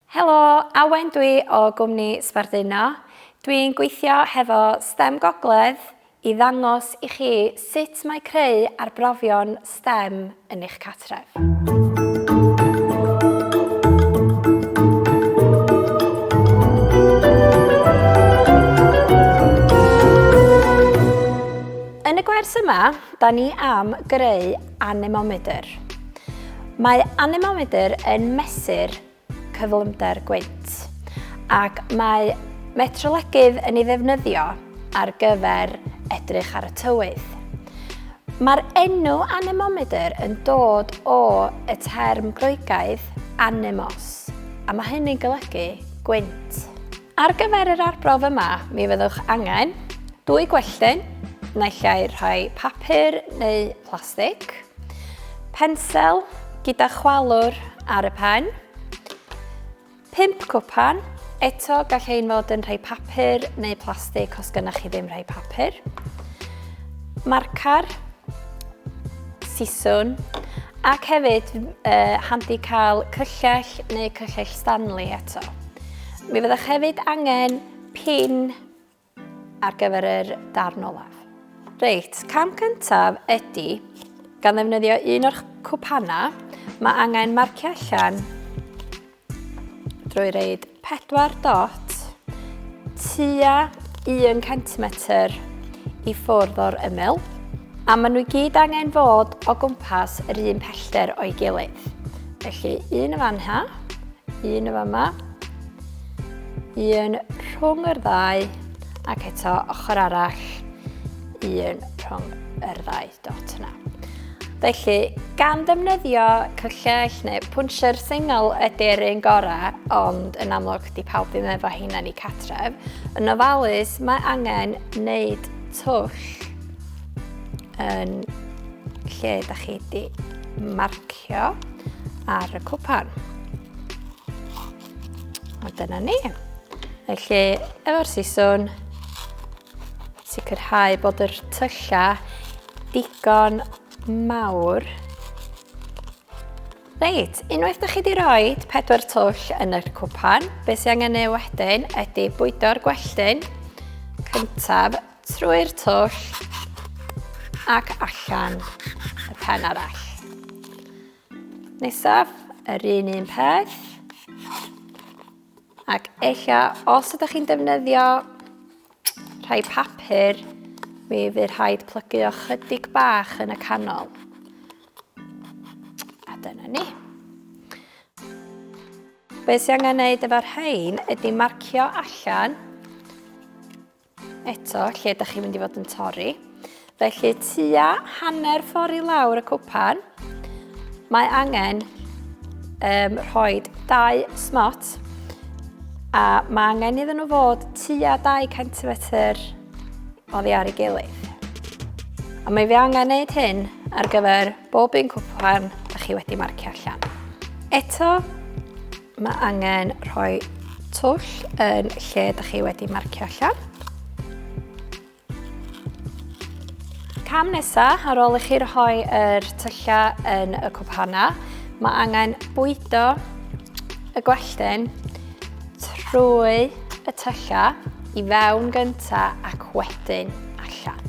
Helo, Awen dwi o gwmni Sbarduno. Dwi'n gweithio hefo stem Gogledd i ddangos i chi sut mae creu arbrofion stem yn eich cartref. Yn y gwers yma, da ni am greu anemomedr. Mae anemomedr yn mesur cyflymder gwynt, ac mae metrolegydd yn ei ddefnyddio ar gyfer edrych ar y tywydd. Mae'r enw anemomedr yn dod o y term Groegaidd anemos, a mae hynny'n golygu gwynt. Ar gyfer yr arbrawf yma, mi fyddwch angen dwy gwelltyn, naill ai rhai papur neu plastig, Pensel gyda chwalwr ar y pen. Pimp cwpan. Eto, gall ein fod yn rhai papur neu plastig os gynnwch chi ddim rhai papur. Marcar, siswn, ac hefyd uh, handi cael cyllell neu cyllell Stanley eto. Mi fyddwch hefyd angen pin ar gyfer yr darn olaf. Reit, cam cyntaf ydy, gan ddefnyddio un o'r cwpanau, mae angen marcio allan drwy reid 4 dot tua 1 cm i ffwrdd o'r ymyl, a maen nhw i gyd angen fod o gwmpas yr un pellter o'i gilydd. Felly un y fan ha, Un yn fama. Un rhwng yr ddau. Ac eto ochr arall. Un rhwng yr ddau dot yna. Felly, gan ddefnyddio cyllell neu pwnsier sengl ydy'r un gorau, ond yn amlwg di pawb ddim efo hynna ni catref, yn ofalus mae angen wneud twll yn lle da chi di marcio. Cio ar y cwpan. A dyna ni. Felly, efo'r siswn, sicrhau bod yr tyllau digon mawr. Reit, unwaith da chi wedi rhoi pedwar twll yn yr cwpan, beth sy'n angen ei wedyn ydy bwydo'r gwelltyn cyntaf Trwy'r twll ac allan y pen arall. Nesaf, yr un un peth. Ac eich os ydych chi'n defnyddio rhai papur, mi fydd rhaid plygu o chydig bach yn y canol. A dyna ni. Be sy'n angen gwneud efo'r rhain ydy marcio allan Eto, lle ydych chi'n mynd i fod yn torri. Felly, tua hanner ffordd i lawr y cwpan, mae angen um, rhoi dau smot a mae angen iddyn nhw fod tua 2 cm o ddiar i gilydd. A mae fi angen gwneud hyn ar gyfer bob un cwpan ydych chi wedi marcio allan. Eto, Mae angen rhoi twll yn lle da chi wedi marcio allan. Cam nesa, ar ôl i chi rhoi yr tyllau yn y cwpana, mae angen bwydo y gwelltyn trwy y tyllau i fewn gynta ac wedyn allan.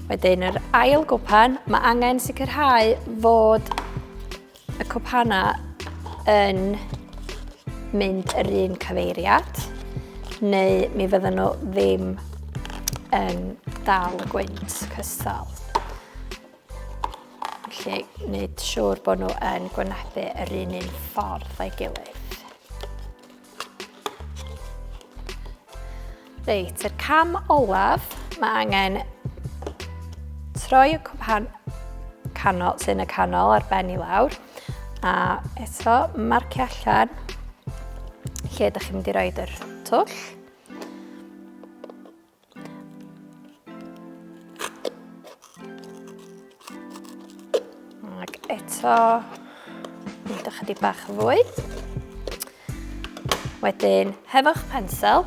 Wedyn yr ail gwpan, mae angen sicrhau fod y cwpanau yn mynd yr un cyfeiriad, neu mi fydden nhw ddim yn dal y gwynt cystal. Felly, wneud siŵr bod nhw yn gwynebu yr un un ffordd o'i gilydd. Reit, yr cam olaf, mae angen troi y cwpan canol, sy'n y canol ar ben i lawr, a eto marcio allan lle ydych chi'n mynd i roed yr twll. Ac eto, mynd ychydig bach yn fwy. Wedyn, hefo'ch pensel,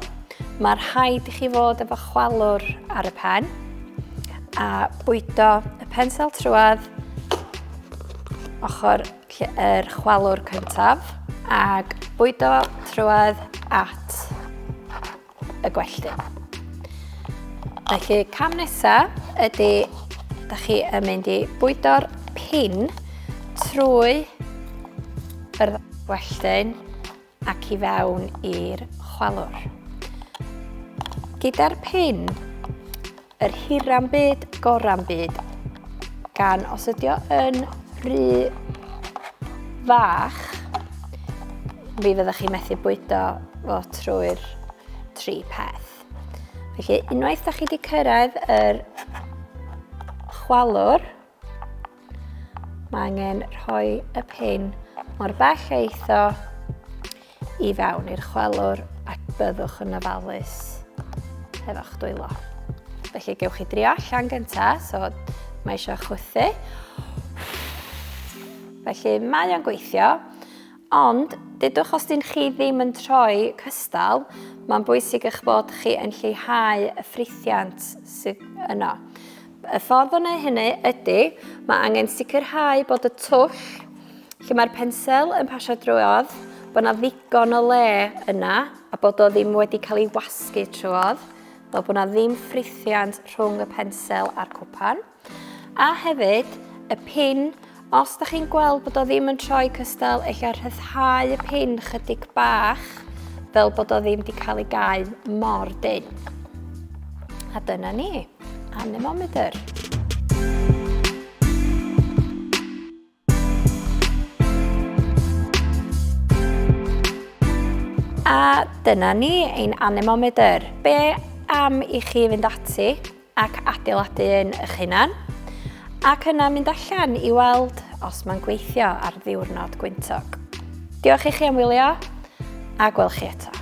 mae'r rhaid i chi fod efo chwalwr ar y pen a bwydo y pensel trwad ochr yr chwalwr cyntaf ac bwydo trwad at y gwelltu. Felly cam nesaf ydy da chi yn mynd i bwydo'r pin trwy yr welltyn ac i fewn i'r chwalwr. Gyda'r pin Yr hira'n byd, gora'n byd. Gan os ydio yn rhy fach, mi fyddwch chi methu bwydo fo trwy'r tri peth. Felly, unwaith da chi wedi cyrraedd yr chwalwr, Mae angen rhoi y pin mor bell a eitho i fewn i'r chwelwr ac byddwch yn ofalus efo'ch dwylo. Felly gewch chi drio allan gyntaf, so mae eisiau chwythu. Felly mae o'n gweithio, ond dydwch os dyn chi ddim yn troi cystal, mae'n bwysig eich bod chi yn lleihau y ffrithiant sydd yno. Y ffordd o wneud hynny ydy, mae angen sicrhau bod y twll lle mae'r pensel yn pasio drwodd, bod yna ddigon o le yna a bod o ddim wedi cael ei wasgu trwodd, fel bod yna ddim ffrithiant rhwng y pensel a'r cwpan. A hefyd, y pin Os da chi'n gweld bod o ddim yn troi cystal, ella rhyddhau y pin chydig bach fel bod o ddim di cael ei gau mor dyn. A dyna ni, anemometer. A dyna ni, ein anemometer. Be am i chi fynd ati ac adeiladu un eich hunan, ac yna mynd allan i weld os mae'n gweithio ar ddiwrnod gwyntog. Diolch i chi am wylio, a gwel chi eto.